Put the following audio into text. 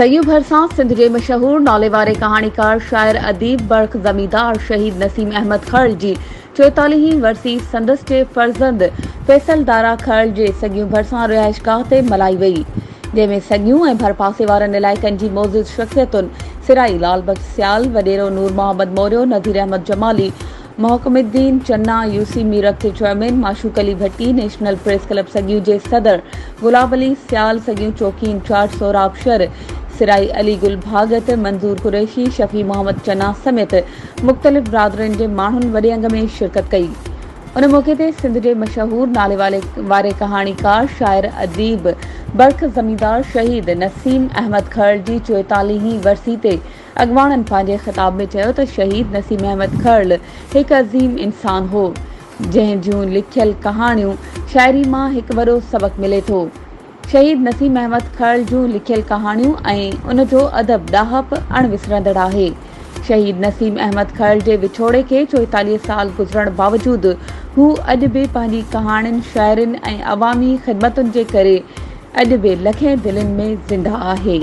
سڄي ڀرسان سنڌ جي مشهور ناليواري ڪهاڻيڪار، شاعر، اديب، برک زميندار شهيد نسيم احمد کهڙ جي چوئيتاليهين ورسي سندس جي فرزند فيصل دارا کهڙ جي سڄي ڀرسان رهائشگاهه تي ملهائي وئي. جنهن ۾ سڳيون ۽ ڀرپاسي وارن علائقن جي معزز شخصيتن سرائي لعل بخش سيال، وڏيرو نور محمد موريو، نذير احمد جمالي، محڪم الدين چنا، يوسي ميرڪ جو chairman Mashooq Ali Bhatti, national press club سڳيون جي صدر گلاب علي سيال، سڳيون چوڪي انچارج سهراب شر، سرائي علي گل ڀاڳت، منظور قريشي، شفيع محمد چنا سميت مختلف برادرين جي ماڻهن وڏي انگ ۾ شرڪت ڪئي. ان موقعي تي سنڌ جي مشهور ناليوالي واري ڪهاڻيڪار، شاعر، اديب، برک زميندار شهيد نسيم احمد کهڙ جي چوئيتاليهين ورسي تي اڳواڻن پنهنجي خطاب ۾ چيو ته شهيد نسيم احمد کهڙ هڪ عظيم انسان هو، جنهن جون لکيل ڪهاڻيون، شاعري مان هڪ وڏو سبق ملي ٿو. شهيد نسيم احمد کهڙ جون لکيل ڪهاڻيون ۽ ان جو ادب ڏاهپ اڻ وسرندڙ آهي. شهيد نسيم احمد کهڙ جي وڇوڙي کي چوئيتاليهه سال گذرڻ باوجود هو اڄ به پنهنجي ڪهاڻين، شاعرين ۽ عوامي خدمتن جي ڪري اڄ به لکين دلين ۾ زنده آهي.